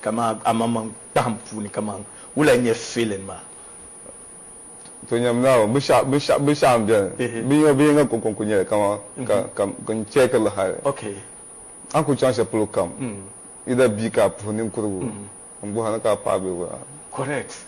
Kaman amaŋmaŋ kpahim puuni kaman wula n-nyɛ feeling maa? To nyam Naawuni. Binshɛɣu m-beni, binyɛr bi yiŋa kɔŋko n-kul nyɛli kaman ka n chɛɛki li hali. A ni kul chaŋ shɛl polo kam, either bia ka a puhi ninkurigu, m-bɔhiri ni ka a paɣa bee wula.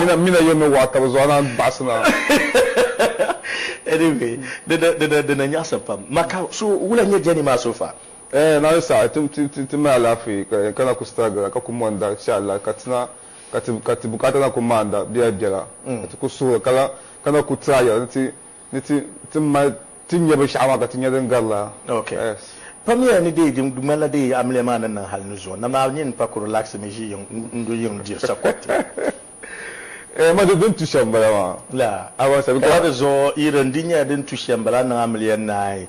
Mina mina yo mi waɣi tabi zuɣu a naan baɣisi naa. Anyway di dina nyaɣisa pam. Ma ka so wula nyɛ journey maa so far? Eeh naawuni saha ti mali alaafee ka yɛn kana ku sitiragira ka ku mondi sha Allah ka ti na ka ti bukaata na ku maanda biɛla biɛla ka ti ku suhuri ka lahi kana ku tiraayira ni ti ni ti ti mali ti nya binshɛɣu maa ka ti nya din garila. Ok. Yes. Pamya ni dee di ŋmanila dee amiliya maa ni niŋ hali nuzɔɔ na maa nyin pa kuri laɣisi mi ʒi yiŋ n-du yiŋ diri sakuriti. Eeh ma di din tu shɛm m-bala maa. Laa. Abaŋ sabi ka. Ka di zuɣu yi di n-di nyɛla din tu shɛm m-bala niŋ amiliya naai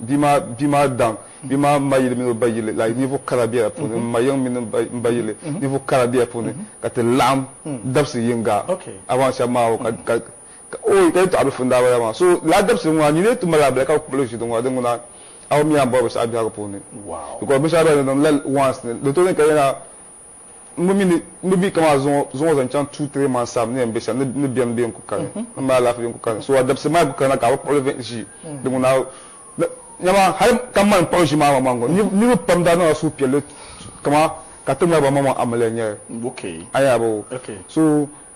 Bia maa, bia maa daŋ, bia maa ma yili mini o ba yili, like ninvuɣ kara bela puuni, m ma yiŋ mini m ba yili, ninvuɣ kara bela puuni, ka ti laɣim dabsi yiŋga around shɛb maa o ka ka ka ooy ka yi tɔɣi bilifu n daa bala maa so lala dabsili ŋɔ a ni lee ti mali a bela ka bi kpibili ʒili ŋɔ di ŋuna a o mi a ni bɔri binshɛɣu biɛhigu puuni because binshɛɣu bela ni di niŋ la once ni di tooi niŋ ka yɛna N bi mi ni n bi mi kamaa zuŋɔ zuŋɔ zaŋ chaŋ two three months time ni yɛn be shɛm ni bɛn bɛ n ku kani ni maa alaafee n ku kani so a dabisi maa ku kana ka a bi kpuɣili vɛn ʒii di ŋuna nyama hali ka mani kpuɣi ʒii maa maŋ ŋɔ niriba pam daa niŋla suhu piɛlli kamaa ka ti ŋmari ba maŋ maŋ amiliya n nyɛli a nya bɔ so.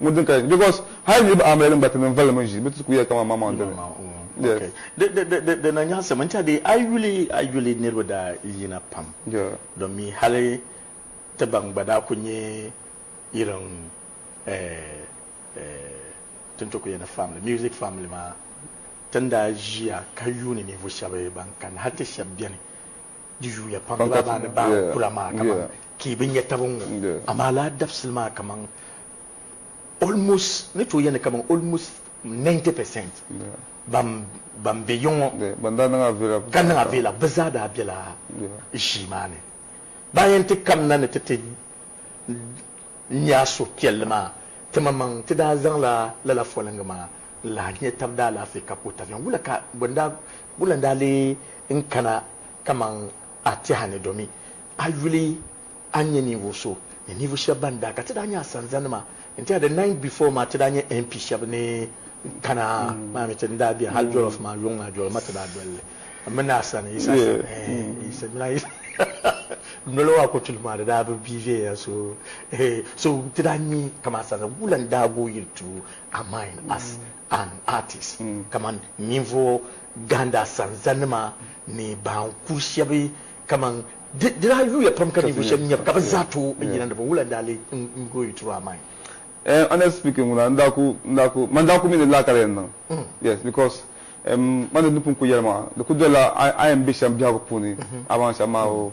Ŋun din ka because hali niriba amilali n gba ti ninvali mi ʒi bɛ ti ku ya kaman maŋmaŋ dali yes. Okay di na nyaɣisim n chadi a yuli a yuli niriba daa yina pam don mi hali ti ban gba daa ku nyɛ irin tin ti ku yani family music family maa tin daa ʒiya ka yuuni ninvuɣu shɛba ban kani hali ti shɛba beni di yuuya pam di baa maa ni baa kula maa kaman Ka yi bi nya taba n-ŋɔ, amaa lala dabisili maa kaman almost, n ni tooi yɛli ni kaman almost 90 percent ban ban be yiŋ ŋɔ, ka niŋ avila, bɛ zaa daa bela ʒii maa ni. Ba n yɛn ti kanna ni ti ti nya suhupiɛlli maa, timaŋmaŋ ti daa zaŋla lala foliŋgi maa n-lahi nya taba daalaafee ka ku taviɛm. Wula ka bɛ ni daa, wula n-daa leei n kana kaman A tɛha ni domin a yuli a nyɛ ninvuɣ so ni ninvuɣ shɛb bɛn daa ka ti daa nyɛ a sanzanima n-tɛha the night before maa ti daa nyɛ MP shɛb ni kana maa mi ti ni daa beni hal jollof maa yuŋ maa jollof maa ti daa doli li m mini a sani Yisa noli maa kotuli maa di daa bi bi viɛnya so so ti daa nyɛ kaman sanzani wula n-daa gooi yuli to a mind as and artists kamani ninvuɣ gahinda sanzanima ni ban kuri shɛba kamani di di daa yuuya pam ka ninvuɣ shɛba nyab ka bɛ zaa tooi n yina ni bɛ wula n daa lee n go you through our mind. Ehm honest speaking ŋuna n daa ku n daa ku man daa ku mi ni laakari yɛn niŋ yes because ehm man di ni pun ku yɛlimaŋa di ku dolla a a yɛn be shɛm biɛhigu puuni a baŋ shɛm maa oo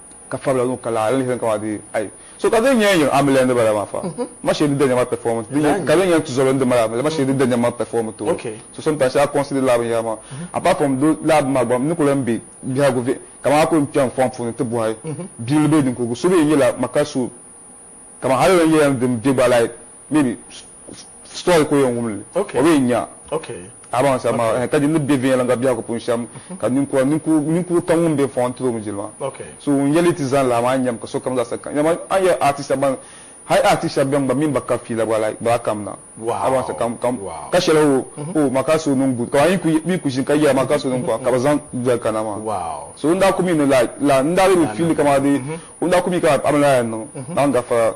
ka fabila ŋun ka laɣiri lihiri ka di ai so ka din nya n-yo a mili n di bala maa fa ma shee di da nyama pɛfɔɔm ti di ka din nya n tuzɔli n di mali a mili ma shee di da nyama pɛfɔɔm ti o so sometimes a consider lala binyɛra maa apart from do lala bini maa gba m ni ku lan be biɛhigu viɛ kaman a ku n kpɛri n fɔŋ puuni ti bɔhi bibili bee ninkurigu so bee n nyɛla ma ka so kaman hali n yɛn yɛn di m be gba like maybe story ka o yɛn wumli o bi yɛn nya a baŋ sabi maa ka di ni bɛ viɛnyɛliŋga biɛhigu puuni shɛm ka ninkura ninkuru kam ŋun bɛ fɔŋ tiri o nudirigu maa so ŋun yɛli ti zani laa maa n yɛm ka sokam zaa sa kani a ni yɛli artist shɛba ban hali artist shɛba bɛni gba min ba ka fiila gba like baa kam na a baŋ sa kam kam ka shɛli o o ma ka so niŋ good ka mi mi ku ʒini ka yɛra ma ka so niŋ kɔŋ ka bi zaŋ doli kana maa so n daa ku mi ni like la n daa bi mi fiili kama di n daa ku mi ka a mi lala niŋ maa n gafara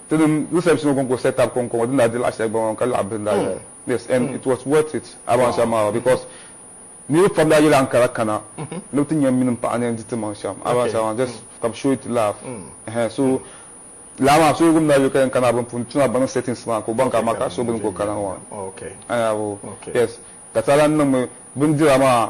Tinim Yusabisi ŋɔ kɔŋko set up kɔŋko ŋɔ din daa di laɣ'shɛli gba ŋɔ ka laɣ bihi n-daa zaya. Yes, and it was worth it abu an shɛm maa gba because niriba pam daa yɛla Ankara kana ni bɛ ti nya mini m paɣa ni n di ti maŋ shɛm abu an shɛm maa just ka bɛ show it love ɛhɛn so laa maa so yiɣimi daa yuli ka yɛn kana bini puuni tuuna bɛ niŋ settings maa ka o baŋ ka amaa ka so bini ka o kana ŋɔ a nya abu yes ka ti daa lan niŋmi bindira maa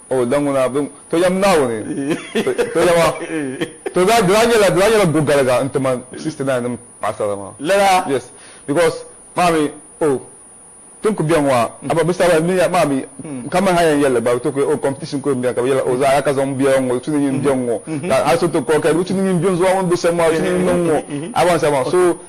O da ŋuna bɛ To yɛm Naawuni To yɛm a To daa di daa nyɛla di daa nyɛla gogaliga n ti man 69 nim paɣasara maa Lala? Yes because maa mi o tin ku bɛ ŋɔ a a ba bisa ba mi maa mi ka man ha yɛn yɛli gba to ku o competition ku bɛ ka bɛ yɛla o zaa ya ka zaŋ biɛla ŋɔ tu ni nyin bɛ ŋɔ ka a so to kɔ ka tu ni nyin bɛ zuwa ŋɔ bɛ sɛm maa tu ni nyin niŋ ŋɔ a ba n sa maa so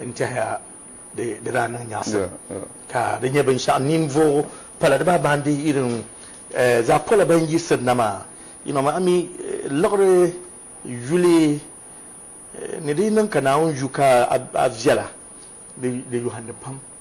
N tɛhiya di daa niŋ nyaɣisim ka di nyɛ binshɛɣu ninvuɣu pala di baa baandi irin zaɣ pola ban yiɣisiri na maa. Yiŋa a mi liɣiri yuli ni di yi niŋ ka Naawuni yu ka a viɛla di yɔhindi pam.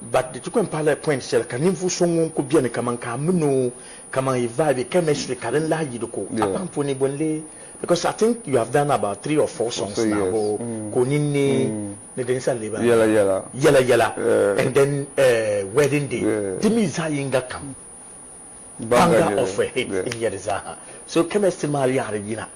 But di ti kwen paɣila point shɛli ka ninvuɣ so ŋun ku beni kaman ka a min o kaman yi vibe chemistry ka din lahi yi di ko a paŋ puuni bɔ n-lee because I think you have done about three or four songs now bɔ ka o nini neei ni di ni sa leei baŋ yɛla yɛla and then eh wedding day di mi zaɣ yiŋga kam baŋga of a hit n-nyɛ di zaa ha so chemistry maa yaɣiri yina.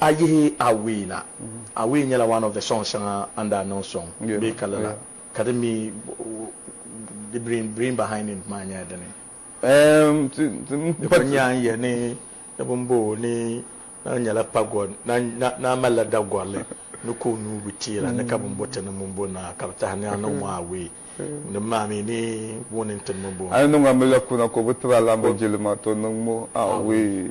A yihi Away na, Away nyɛla one of the songs shɛŋa a ni daa niŋ sɔŋ bee ka lala ka di mi the brain behind it maa nyɛla dini? Di kuli nyɛla n yɛli ni ni bini bɔɔ ni naan nyɛla pagɔ naan malila dagɔrili ni ka o nuu bi teera ni ka bini bɔ ti ni mini bɔ naa ka bi tahi ni a niŋ maa away din maa mi ni booni n ti ni mini bɔ. A ni niŋ a mi la kuna ka o bi ti ba alaamba jilima to niŋ mo away.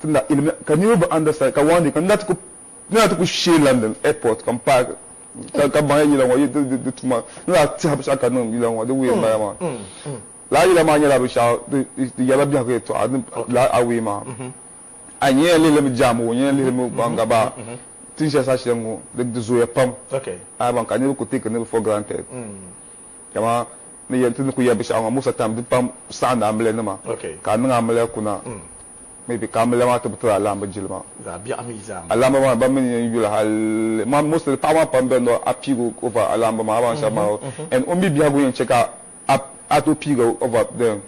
ti na ilimi ka niriba bi understand ka one day ka n lahi ti ku shee London airport ka m paaki ka baŋya yila ŋɔ yi di tuma ni lahi tɛhi binshɛɣu ka niŋ yila ŋɔ di way m bala maa lala yila maa nyɛla binshɛɣu di yɛrila biɛhigu yɛltɔɣa lala a way maa a yi yɛn lihili mi jaamu o yɛn lihili mi baŋ gaba tiŋ shɛli saha shɛli ŋɔ di zooya pam a yi baŋ ka niriba ku take niriba for granted. Dama ni yɛn ti ni ku yɛli binshɛɣu ŋɔ, Musa time di pam saɣindi amiliyanima ka a niŋ amiliya kuna maybe ka amiliya maa ti bi tiri alaamba jilima. Alaamba maa ba mi ni yɛn yuli hali maa mostly paɣaba maa pam bɛn ni a piigi o over alaamba maa a baŋ shɛba maa o and o mi biɛhigu yɛn chɛ ka a tooi piigi o over then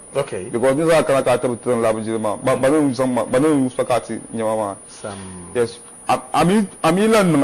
because ninvuɣu maa kana ka a ti bi tiri n laamba jilima maa ba ni n zaŋ ma ba ni n so ka a ti nyɛ ma maa yes a mi yi lan niŋ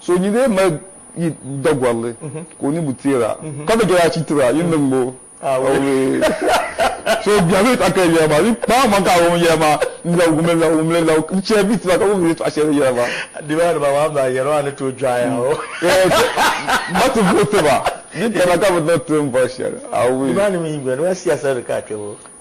So yi lee mali yi dagɔrili ka o ninvuɣ teeg a, ka be gari achi tiri a, yi niŋm o awuree. So biɛhigu yi tɔɣa kali yɛla maa, yi kpaai man ka awuroo yɛla maa n-labi wumli la wumli la, yi chɛ bɛ tiba ka bɛ mi ni tɔɣa shɛli yɛla maa. Diba diba maa maa yɛla maa ni tooi dɔɣiya o. Eeh so ma ti vooti ba, di kana ka bɛ niŋ tiŋ bɔri shɛli awuree. Diba ni mi yi gba, diba siyaasa ni ka a kpe ŋɔ.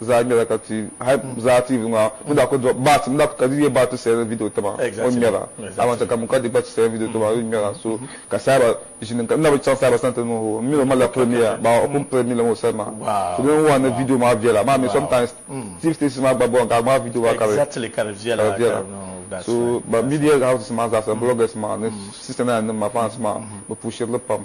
zaa ŋmɛra ka ti hali zaa TV ŋɔ a mi daa kuli dɔɣi baati mi daa ka di yɛ baati ti sɛrin video taba o ni ŋmɛra a man saka mi ka di gba ti sɛrin video taba o ni ŋmɛra so ka saaba ʒini ka n na bi chaŋ saaba sani ti niŋ o mi o mali la premier baa o pun piri mi limi o sani maa so din wan ni video maa viɛla maa mi sometimes TV stations maa gba bɔŋ ka a ŋmaai video maa ka di ka di viɛla so ban media houses maa zaa sa bloggers maa ni sister naan nim maa fans maa bi pushiri li pam.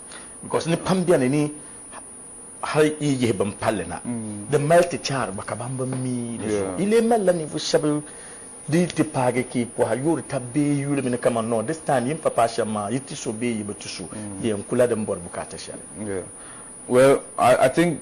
Because ni pam beni ni hali yi yihi bin palli na, di mali ti chaari gba ka ban bi mi di zuɣu. Yi lee malila ninvuɣ shɛba di yi ti paagi ka yi pɔhi yoori tab bee yi yuli mi ni kaman no, this time yi ni pa paai shɛm maa, yi ti so bee yi bi ti so, di yɛn kula din bɔri bukaata shɛli. Well, I think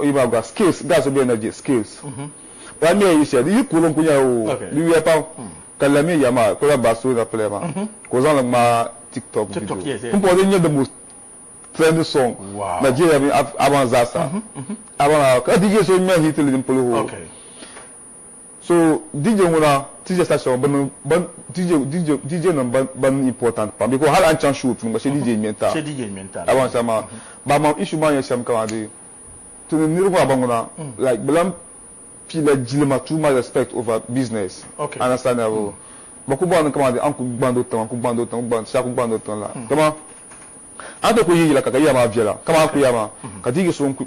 Yi maa gba skills gas be energy skills pa mi yi shɛli yi kuli n kuli nyɛla o di yuya pam ka la mi ya maa kuli la back story na play maa ka o zaŋli ŋmaa tiktok video n puhi din nyɛ the most trending song Nigeria mini Aban zaa sa Aban ka DJ so ŋmɛ hit li din polo hoo. So DJ ŋɔ na teach sa shɛŋa bini ban DJ DJ DJ nim ban ban important pam because hali a ni chaŋ show puuni gba shɛ DJ ŋmɛ n taai Shɛ DJ ŋmɛ n taai. Labaŋ saha maa ba mam issue maa nyɛ shɛm kama dee ti ni niriba maa ba ŋuna like bi lan pii la jilima too much respect over business Okay. understand ya bɔ ba ku bɔri ni kama dee a ni ku gbandi o tiŋa n ku gbandi o tiŋa n ku gbandi shɛba ku gbandi o tiŋa la dama a ni tooi ku yihi yila ka ka yiya maa viɛla kama a ni ku ya maa ka DJ so n ku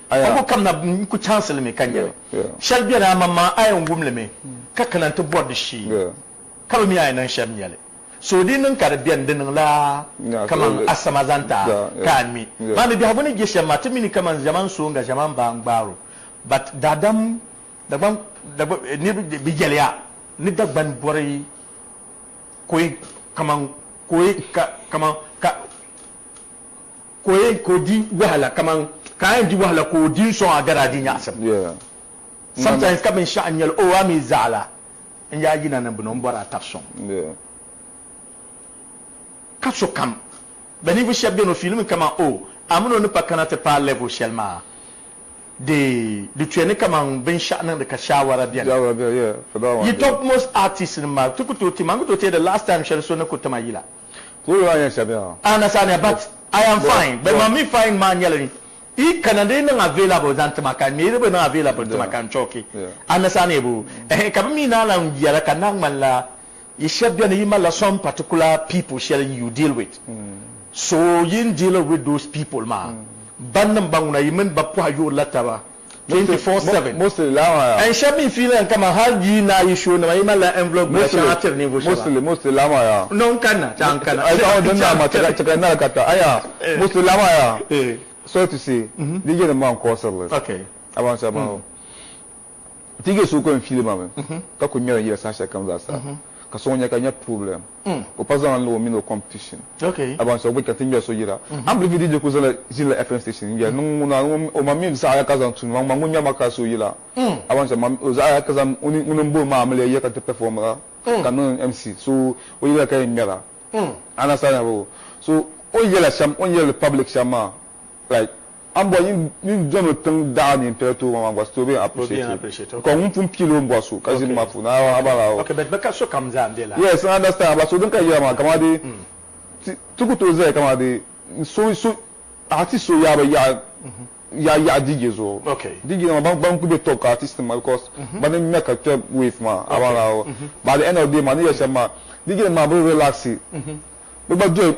Ka ko kam na n ku chaŋsi li mi ka nya shɛli beni, aman maa a yɛn wum li mi ka kana nti bɔri di shee, ka bi mi a ni niŋ shɛm nya li. So o dii niŋ ka di beni, di niŋla kaman a sam a zaŋ ti a ka a ŋmi. Maa mi biɛhigu ni je shɛm maa, ti mi ni kaman ʒiɛman so n-ga ʒiɛman baa n-gbaar o, but daadam Dagban, Dagban, niriba bi yɛli ya ni Dagban bɔri ka o yi, kaman ka o yi, ka, kaman ka. Ka o yɛn ka o di wahala kaman ka a yɛn di wahala ka o di n-sɔŋ a gari a di nyaɣisim. Sometimes ka binshɛɣu n-nyɛ li, oh a mi zaɣila n yaa yina ni bini o ni bɔri a taba sɔŋ. Ka sokam bɛ ninvuɣ shɛb beni o fiilimi kaman oh a min o ni pa kana ti paai level shɛli maa di di tuya ni kaman binshɛɣu niŋdi ka shaawara beni. Yi tɔb most artist nim maa ti ku tooi ti ma n-ku tooi teei the last time shɛli so ni ku ti ma yila. Who you are here sabi ha? Ana Sania but I am fine but mam mi fine maa nyɛla ni yi kana di niŋ available zaŋ ti ma ka mi di bi niŋ available ti ma ka n chɔki Ana Sania boo ɛhɛn ka bi mi naan lan yɛra ka naa ŋmanila yi shɛb beni yi malila some particular people shɛli you deal with so yin deal with those people maa bannim ba ŋuna yi mini ba pɔhi yoorila taba 24/7 and shɛb mi fiili n kaman hal di yi naai yi show nima yi malila envelope bila shɛŋa tiri ninvuɣu shɛba no n kanna ti a n kana chaŋ. ka so ŋɔ nya ka nya problem ka o pa zaŋ niŋ o mini o competition aban so gba ka ti ŋmɛri so yira a ni bilifi DJ kuli zala ʒinila FM station n ŋmɛri niŋ ŋuna o ma mi zaɣaya ka zaŋ tumdi ma ŋun ŋmɛri ma ka so yila aban so o zaɣaya ka zaŋ ŋuni m-boli ma amiliya yira ka ti performira ka niŋ MC so o yila ka yɛn ŋmɛra a understand mi so o ni yɛla shɛm o ni yɛli public shɛm maa like A mbɔri nyin nyin dɔni o tiŋ daɣa nyin pɛri tooi ŋɔ maa gba still being appreciative because ŋun pun pili o bɔri so ka ʒini maa puuni a a bala o yes n understand a bala so din ka yɛra maa kamaa dee ti ti ku tooi zaya kamaa dee so so artist so yaai bi yaɣa yaɣa yaɣa DJ zuɣu DJ nima ban ban ku bɛ top ka artist nima because bani n ŋmɛ ka kpɛ wave maa a bala o but at the end of the day maa ni yɛri shɛm maa DJ nima maa bi relaxi bi gba doli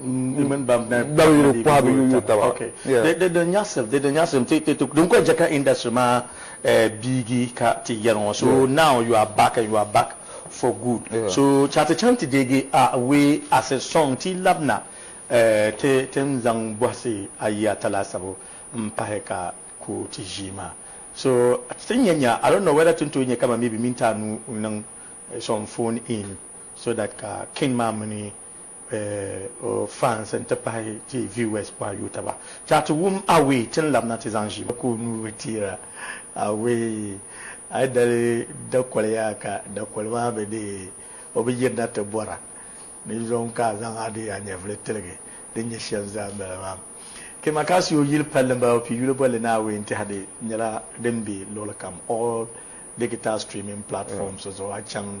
dawuliri kɔhibu yuyu taba din kuli jɛka industry maa eh, biigi ka ti yɛri ŋɔ so now you are back and you are back for good so ka ti chaŋ ti deegi a way as a song ti labina eh, ti tin zaŋ bɔhisi ayi ata laasabu m pahi ka ku ti ʒii maa so tin nya nya I don't know whether tin tooi nyɛ kama maybe minti anu n niŋ eh, some phone in so that ka king maa mini o fans n-ti pahi ti viewers pɔi yuui taba. Chɛɣu ti wum Away ti ni labina ti zaŋ ʒi. Ka o nuu bi teera Away. A yi dali dakoli yaa ka dakoli maa bi dee o bi yirina ti bɔra ni yom ka a zaŋ a dee a nyɛvili tiligi din nyɛ shɛm zaa m-bala maa. Kema ka a si o yili palli m-bala o pii yuli bolli ni Away n-tihi di nyɛla din be luɣili kam all digital streaming platforms zuɣu a chaŋ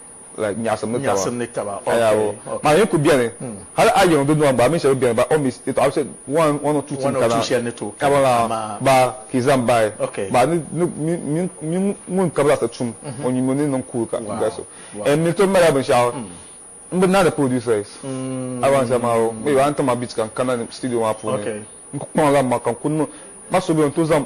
nyaɣisim ni taba. Maa ni ku beni hal a yiŋ di nua gba a mini shɛba beni ba o mi ti tɔɣi shɛli one or two tin kana kabi la ba ka yi zaŋ bahi ba ni mi ŋun kabi laɣisi tum o nyubu ni niŋ kuuri ka gari so and mi tom mali binshɛɣu n bi naani producers a wan zama o mi a ni ti ma beat ka n kana studio maa puuni n ku kpaŋ la ma ka n ku niŋ ma so beni n tooi zaŋ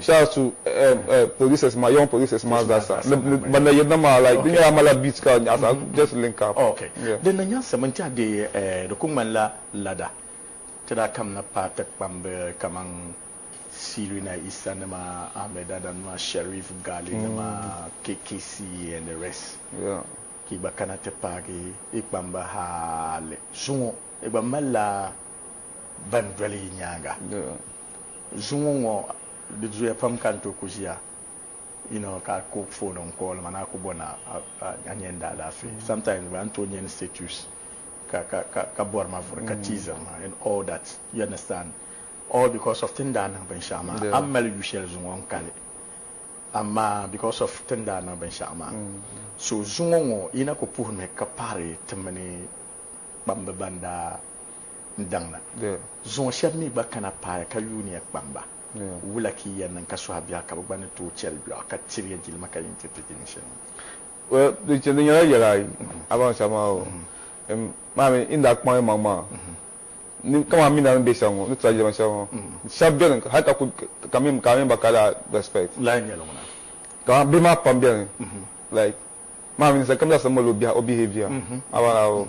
Saa su polices maa young polices maa zaa sa ni ban na yirina maa like di nyɛla mala beat ka nyaɣisa just link up yeah. Din na nyaɣisim n tɛha dee di ku ŋmanila lada ti daa kamina paai ti kpamb kaman Siluina Isa nima, Ahmed Adam nima, Sherif Gali nima, KKC and the rest yeah ka yi gba kana ti paagi yi kpamba hali zuŋɔ yi gba mali la ban doli yi nyaaŋa. zuŋɔ ŋɔ di zuya pam ka n tooi ku ʒiya you know, ka a ku fooni n call ma ni a ku bɔ ni a nyɛ n daalaafee sometimes gba n tooi nyɛ ni status ka ka ka ka bɔri ma vuri ka teasiri ma and all that you understand all because of ti ni daa niŋ binshɛɣu maa a ni mali yu shɛli zuŋɔ n kali amaa because of ti ni daa niŋ binshɛɣu maa so zuŋɔ ŋɔ yi na ku puhi mi ka pahiri ti mini kpambi ban daa n daŋna. Zuŋɔ shɛba mi gba kana paaya ka yuuni ya kpam ba. Wula ka yi yɛn niŋ ka suhi biɛɣu ka bɛ gba ni tooi chɛ li biɛɣu ka tiri ya jilima ka yi ni ti ti jilin shɛli maa? Di nyɛla yɛl ayi, a baŋ saha maa o, maa mi yi ni daa kpaŋ yimaŋ maa, kaman a mi daa ni be shɛli ŋɔ, ni tila jilima shɛli ŋɔ. Shɛba beni hali ka ku, ka a mini ba ka daa respect. Kaman bihi maa pam beni, like maa mi ninsali kam zaasa mali o behavior, a baŋ lala o.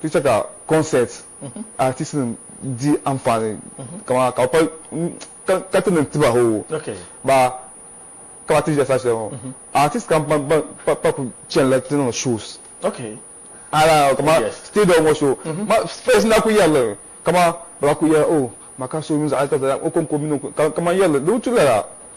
Ti chɛ ka kɔnsɛt aatistinim di anfaani kaman ka bɛ pali ka ti niŋ tiba hoo ba ka ba ti ʒiya saha shɛli ŋɔ. Aatist kam pam pa ku chanila ti niŋ shows hali kaman stadium ŋɔ show maa first na ku yɛri li kaman bɛ lahi ku yɛli oh Maka so mini zaɣ yini ka zaɣ yini o kɔŋko mini o kaman yɛri li di bi tu lala.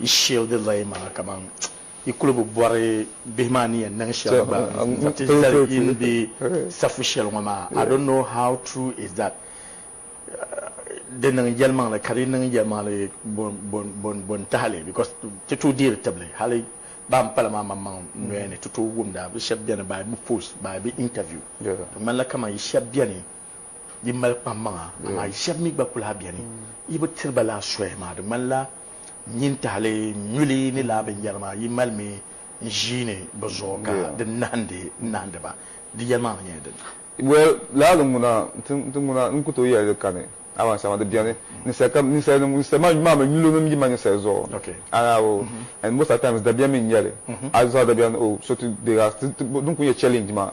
Yi shield lay maa kaman yi kuli bi bɔri bihi maa ni yɛn niŋ shɛli gba n za ti zali yi ni be safu shɛli ŋɔ maa I don't know how true is that di niŋ yɛlimaŋli ka di niŋ yɛlimaŋli bo n tahili because ti tooi deeri tibili hali baa n pala maa maŋmaŋ noya ni ti tooi wumda bi shɛba beni baa bi post baa bi interview di ŋmanila kaman yi shɛba beni Di mali kpammaŋa, amaa shɛb mi gba ku lahi beni yi bi tiri ba lala soya maa. Di ŋmanila nyintahili nyuli ni lala binyɛri maa yi malimi n-ʒiini bɛ zuɣu ka di nahindi nahindi ba. Di yɛlimaŋli mi nyɛla dini? Well, lala di ŋuna n-ti ŋuna n-ku tooi yɛli di kani. Amaa sama di beni ninsalikam, ninsalinim, ninsalimanim maa mi nyulonim yi mali ninsali zuɣu. Amaa o, and most at times dabiɛm mi n-nyɛli. A zuɣu a dabiɛm ni o so ti deeg a, din kuli nyɛ challenge maa.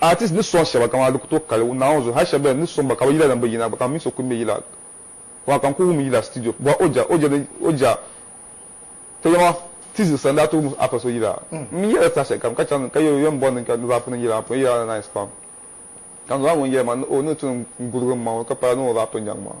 Artist ni sɔŋ shɛba kaman a di ku tooi kali Naa ŋɔ zuɣu hali shɛba beni n ni sɔŋ ba ka bɛ yila din bi yina gba ka m mi so ku mi yila maa ka n ku wum yila studio bɔhi o ja o ja ni o ja ka yɛma ti ziɣisi a ni daa ti wum Afa so yila m mi yɛla saha shɛlikam ka chaŋ ka yɛli o yɛn bɔri ni ka ni rap niŋ yila maa puuni yila maa nice pam ka n zaŋ la ŋun yɛli maa ni o ni ti ni n gurigi m maŋ o ka pala ni o rap nyaŋ maa.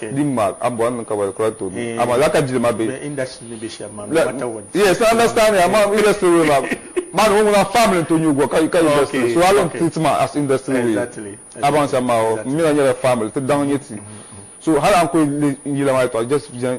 Din maa a bɔri ni ka ba kura tooi mi amaa lala ka jilima be. Bɛ industry ni be shɛm maa bɛ matter what. Yes I understand ya amaa industry way maa maa ni ŋɔ ŋuna family n-tooi nyugi o ka industry ni so a lan treat maa as industry way a baŋsim maa o n mi la nyɛla family ti daŋ nyɛ ti so hali a ni kuli le n yila maa yɛtɔɣa just viɛŋ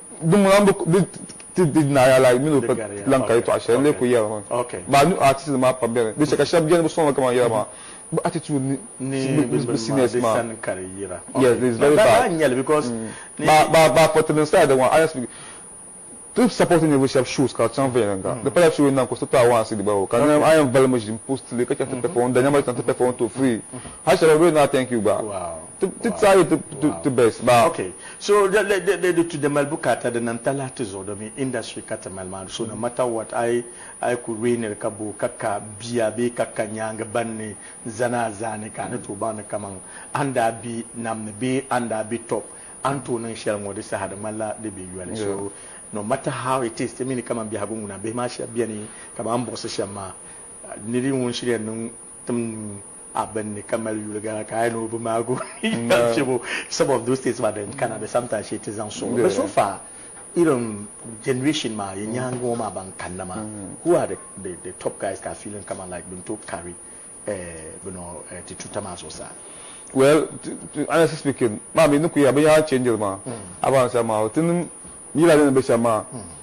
Dinŋuna n-bi di ti di Naa Yaalayi mini o pa lan ka yɛtɔɣa shɛli n-lee kul yɛri ŋɔ maa. New artist nim maa pam beni. Di chɛ ka shɛb beni bi sɔŋ la kaman yɛla maa bi attitude ni bi seniors maa. Yes, it's very bad. Ba ba fɔ ti din saha di ŋɔ honest speaking ti support ninvuɣu shɛb shows ka di chaŋ viɛnyɛliŋga. Di pala show yini na n-ku sitɔɣu awaansi di balibu ka niŋ a yɛn vali mi ʒim post li ka chaŋ ti perform n-da nyama ti chaŋ ti perform to free. Hali shɛba bi na thank you gba. Ti try it ti best ba. Ok so di tu di mali bukaata di nam talahi ti zuɣu domin industry ka ti mali maa so no matter what a yi ku reeniri ka boo ka ka bia bee ka ka nyaangi ban ni zani a zaani ka a ni tooi baŋdi kaman a ni daa be nam ni bee a ni daa be top a ni tooi niŋ shɛli ŋɔ di saha di ŋmanila di be yoli so no matter how it is ti mi ni kaman biɛhigu ŋuna bihi maa shɛba beni kaman m buɣisi shɛm maa niri ŋun shiriya niŋ tim a bini ni ka mali yuli gana ka a yi ni o bi maagi o ni yɛli shɛbo some of those things maa din kana bɛ sani tashi ti zaŋ soŋ bɛ so far irin generation maa yi nyaangi ŋɔ maa ban kanna maa who are the the top guys ka a feeling kaman like bin tooi carry bino ti tuuta maa zuɣusaa. Well honestly speaking maa mi ni ku yɛli binyɛra change li maa a baa ni shɛm maa o ti niŋ yila din ni be shɛm maa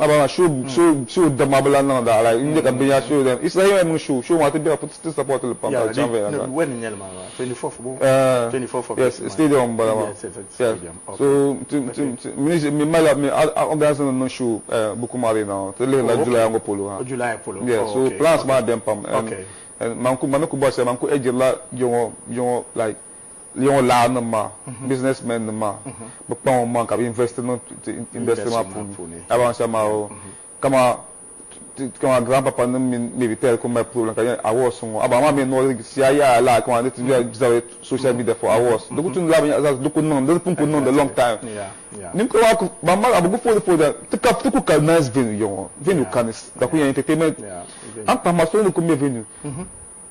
Abraham show so so dam ma bi lan niŋ da like n-nyɛ ka binyɛra so dam Israel yɛn niŋ show show maa ti bɛra ti support li pam ka di chaŋ viɛnyɛliŋga yes stadium m-bala maa yes so mi malila mi organiser nim niŋ show Bukum Arena ŋɔ ti lihiri la July ŋɔ polo ha yes so plans maa bɛni pam and man ku mami ku bɔrisi man ku ɛjirila jɛŋɔ like Leon Law nim maa business men nim maa bi kpaŋ o maŋ ka bi invest niŋ ti industry maa puuni a baŋ shɛm maa oo kama kama grand papa nim mini maybe tɛri ku mali problem ka yɛn awards ŋɔ a baŋ maa mi nɔɔri si a yaai laa kama ni ti bɛ zabiri social media for awards di ku tumdi la binyɛra zaɣa di ku niŋ di pun ku niŋdi long time ninkura maa ku ban mali a bi ku foodi foodi ti ka ti ku ka nice venue yɔŋɔ venue ka ni da ku yɛn entertainment an pahima so ni ku mɛ venue.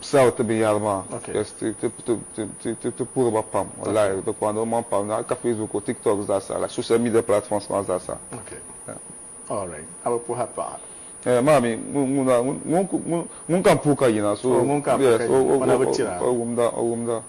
sal ti binyɛra maa because ti puhiri ba pam wallahi di kpaŋdi o maŋ pam hali ka facebook o tiktok zaasa like social media platforms maa zaasa maa mi ŋun ka m puhi ka yina so o wumda.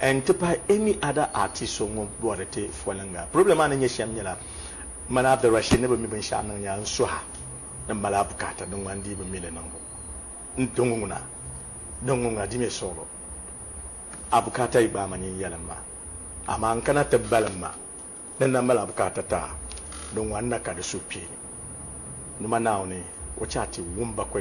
N ti pahi any other artist so ŋun bɔhiri ti foliŋga. Problem maa ni nyɛ shem nyɛla man I've the ration ni bi mi binshɛɣu niŋ ya n suha ni mali a bukaata din ŋmani dii bi mi li niŋbu n di ŋuna din ŋuna di mi suɣilo a bukaata yi gbaai ma nyin yɛlim ma amaa n kana ti balim ma ni n na mali a bukaata taa di ŋwa n na ka di suhukpeeni numa Naawuni o chɛ a ti wum ba